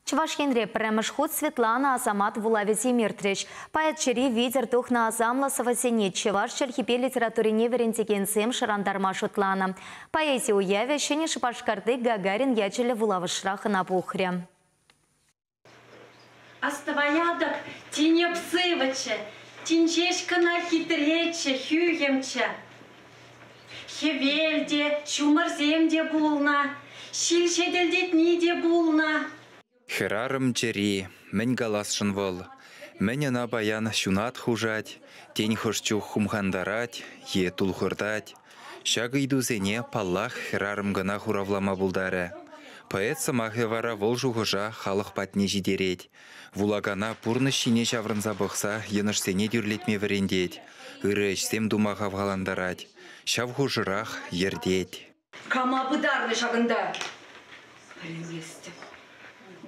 Чӑваш Енре пӗрремӗш хут Светлана Асамат вулавӗсем иртрӗҫ. Поэтчӗри витӗр тухнӑ асамлӑ сӑвӑсене чӑваш чӗлхипе литературине вӗрентекенсем шӑрантарма шутланӑ. Поэзи уявӗ Ҫӗнӗ Шупашкарти Гагарин ячӗллӗ вулавӑшра хӑна пухрӗ. Астӑваятӑп, тине псывӑччӗ, тин ҫеҫ кӑна хитреччӗ, хӳхӗмччӗ. Хӗвел те, ҫумӑрсем те пулнӑ, ҫил ҫетӗлтетни те пулнӑ. Хӗрарӑм чӗри, мӗн каласшӑн вӑл? Мӗн ӑна паян ҫунат хушать, тен хӑш чух хумхантарать е тулхӑртать? Ҫак ыйтусене, паллах, хӗрарӑм кӑна хуравлама пултарӗ. Поэт сӑмахӗ вара вӑл шухӑша халӑх патне ҫитерет. Вулакана пурнӑҫ ҫине ҫаврӑнса пӑхса йӑнӑшсене тӳрлетме вӗрентет, ырӑ ӗҫсем тума хавхалантарать, ҫав хушӑрах йӗртет. Кама пытарнӑ ҫакӑнта? Пӗлместӗп.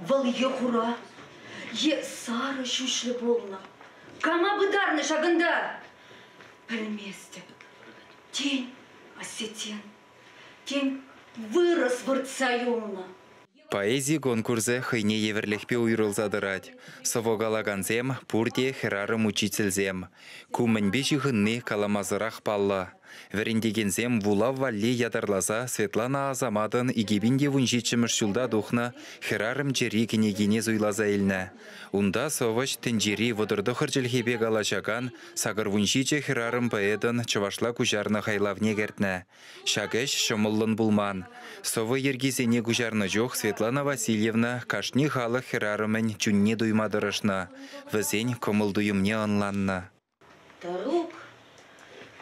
Вӑл е хура, е сарӑ ҫӳҫлӗ пулнӑ. Кама пытарнӑ ҫакӑнта? Пӗлместӗп. Тен, осетин. Тен, вырӑс выртса юлнӑ. Поэзи конкурсӗ хӑйне евӗрлӗхпе уйрӑлса тӑрать. Сӑвӑ калакансем пурте хӗрарӑм-учительсем. Ку мӗнпе ҫыхӑнни каламасӑрах паллӑ. Вӗрентекенсем вулав валли ятарласа Светлана Асаматӑн 2017 ҫулта тухнӑ «Хӗрарӑм чӗри» кӗнекине суйласа илнӗ. Унта сӑвӑҫ тӗнчери вӑтӑртӑхӑр чӗлхепе калаҫакан сакӑрвунҫичӗ хӗрарӑм поэтӑн чӑвашла куҫарнӑ хайлавне кӗртнӗ. Ҫак ӗҫ ҫӑмӑллӑн пулман. Сӑвӑ йӗркисене куҫарнӑ чух Светлана Васильевна кашни халӑх хӗрарӑмӗн чунне туйма тӑрӑшнӑ, вӗсен кӑмӑл-туйӑмне ӑнланнӑ. Тӑрук,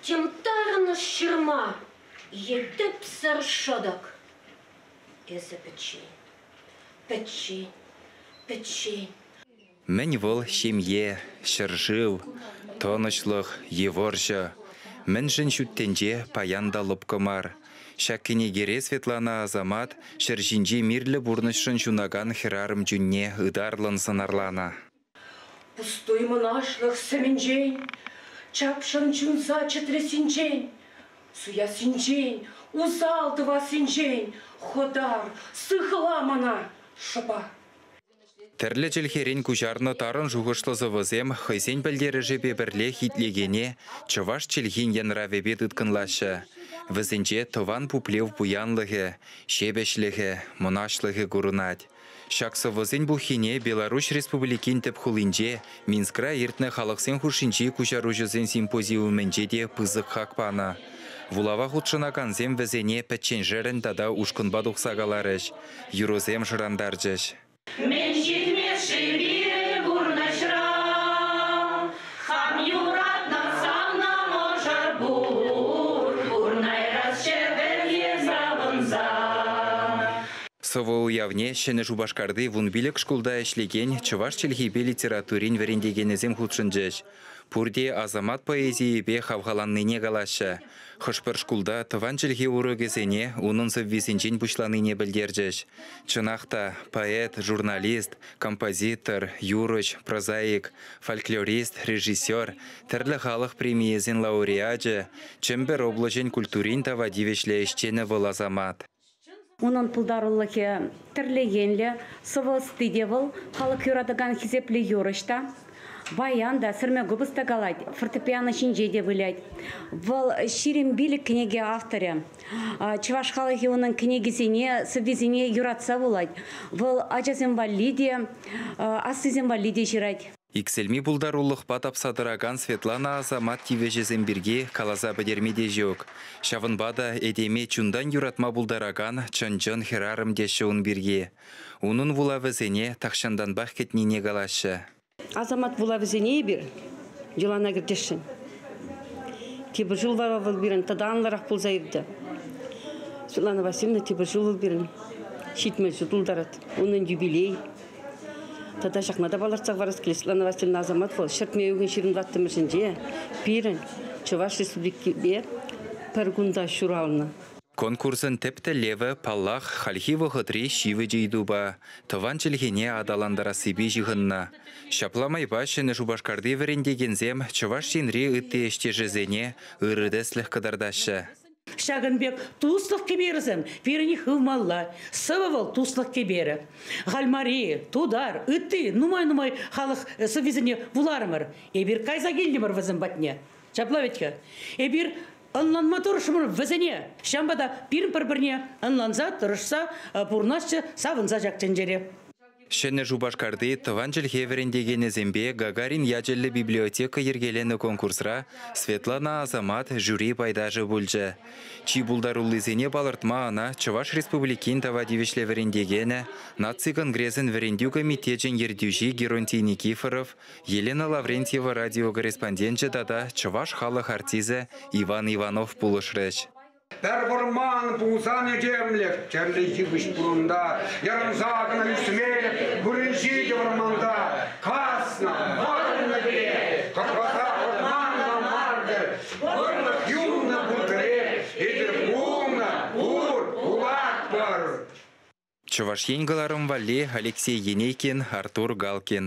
йӑмтарнӑ ҫырма, йӗтӗпсӗр шӑтӑк. Эсӗ пӗччен, пӗччен, пӗччен. Мӗн вӑл ҫемье, ҫӗршыв, тӑнӑҫлӑх е вӑрҫӑ? Мӗншӗн ҫут тӗнче паян та лӑпкӑ мар? Ҫак кӗнекере Светлана Асамат ҫӗр ҫинчи мирлӗ пурнӑҫшӑн ҫунакан хӗрарӑм чунне ытарлӑн сӑнарланӑ. Пустуй мӑнаҫлӑх сӗмӗнчен, Чапшӑн чунса чӗтресинчен, Суяссинчен, усал тӑвассинчен Хӑтар, сыхла мана шӑпа! Тӗрлӗ чӗлхерен куҫарнӑ тарӑн шухӑшлӑ сӑвӑсем хӑйсен пӗлтерӗшӗпе пӗрлех итлекене чӑваш чӗлхин янравӗпе тыткӑнлаҫҫӗ. Вӗсенче тӑван пуплев пуянлӑхӗ, ҫепӗҫлӗхӗ, мӑнаҫлӑхӗ курӑнать. Ҫак сӑвӑсен пуххине Беларуҫ Республикин тӗп хулинче Минскра иртнӗ халӑхсен хушшинчи куҫаруҫӑсен симпозиумӗнче те пысӑк хак панӑ. Вулава хутшӑнакансем вӗсене пӗчченшерӗн тата ушкӑнпа тухса каларӗҫ. юрӑсем шӑрантарчӗҫ. Мӗн ҫитмӗш-ши пирӗн пурнӑҫра? Хам юратнӑ савнӑ мӑшӑр пур, пурнайрасчӗ пӗрге савӑнса. Сӑвӑ уявне Ҫӗнӗ Шупашкарти вун пилӗк шкулта ӗҫлекен чӑваш чӗлхипе литературин вӗрентекенӗсем хутшӑнчӗҫ. Пурте асамат поэзийӗпе хавхаланнине калаҫҫӗ. Хӑш-пӗр шкулта тӑван чӗлхе урокӗсене унӑн сӑввисенчен пуҫланине пӗлтерчӗҫ. Чӑнах та, поэт, журналист, композитор, юрӑҫ, прозаик, фольклорист, режиссер, тӗрлӗ халӑх премийӗсен лауреачӗ, Чӗмпӗр облаҫӗн культурин тава тивӗҫлӗ ӗҫченӗ вӑл асамат. Унӑн пултарулӑхӗ тӗрлӗ енлӗ, сӑвӑ ӑсти те вӑл. Халӑх юратакан хисеплӗ юрӑҫ та, баян та, сӗрме купӑс та калать, фортепиано ҫинче те вылять. Вӑл ҫирӗм пилӗк кӗнеке авторӗ. Чӑваш халӑхӗ унӑн кӗнекисене, сӑввисене юратса вулать. Вӑл ачасем валли те, аслисем валли те ҫырать. Иксӗлми пултарулӑхпа тапса тӑракан Светлана Асамат тивӗҫӗсем пирки каласа пӗтерме те ҫук. Ҫавӑнпа та этеме чунтан юратма пултаракан чӑн-чӑн хӗрарӑм теҫҫӗ ун пирки. Унӑн вулавӗсене тахҫантанпах кӗтнине калаҫҫӗ. Асамат вулавӗсене эпир йӑлана кӗртесшӗн. Тепӗр ҫул вара вӑл пирӗн тата анлӑрах пулса иртӗ. Светлана Васильевна тепӗр ҫул вӑл пирӗн ҫитмӗл ҫул тултарать. Унӑн юбилей Тата ҫакна та палӑртса хӑварас килет, Светлана Васильевна Азамат вӑл ҫӗртме уйӑхӑн ҫырӑнваттӑмӗшӗнче пирӗн Чӑваш Республикипе пӗр кунта ҫуралнӑ. Конкурсӑн тӗп тӗллевӗ, паллах, хальхи вӑхӑтри ҫивӗч ыйтупа, тӑван чӗлхене аталантарассипе ҫыхӑннӑ. Ҫапла майпа Ҫӗнӗ Шупашкарти вӗрентекенсем Чӑваш Енри ытти ӗҫтешӗсене ырӑ тӗслӗх кӑтартаҫҫӗ. Ҫакӑн пек туслӑх кӗперӗсем пирӗн хывмалла. Сывӑ вӑл туслӑх кӗперӗ. Хальмари, тутар, ытти нумай-нумай халӑх сӑввисене вуларӑмӑр. Эпир кайса килтӗмӗр вӗсем патне. Ҫапла вӗт-ха. Эпир ӑнланма тӑрӑшмӑр вӗсене. Ҫавӑнпа та пирӗн пӗр-пӗрне ӑнланса, тӑрӑшса пурӑнасчӗ, савӑнса ҫак тӗнчере. Ҫӗнӗ Шупашкарти тӑван чӗлхе вӗрентекенӗсемпе Гагарин ячӗллӗ библиотека йӗркеленӗ конкурсра Светлана Асамат жюри пайташӗ пулчӗ. Чи пултаруллисене палӑртма ӑна Чӑваш Республикин тава тивӗҫлӗ вӗрентекенӗ, наци конгресӗн вӗрентӳ комитечӗн ертӳҫи Геронтий Никифоров, Елена Лаврентьева радиокорреспонденчӗ тата чӑваш халӑх артисӗ Иван Иванов пулӑшрӗҫ. Пӗр вӑрман пулсан этемлӗх тӗрлӗ йывӑҫ пурӑнта. Ярӑнса кӑна ӳсмелӗх вырӑнҫи те вӑрманта. Каснӑ вӑрнӑ кӗрек, кӑрпата вӑрманла мар-тӗр. Вӑрлӑх юлнӑ пур кӗрек, эсир пулнӑ пур, пулатпӑр. Чӑваш Ен кӑларӑм валли Алексей Енейкин, Артур Галкин.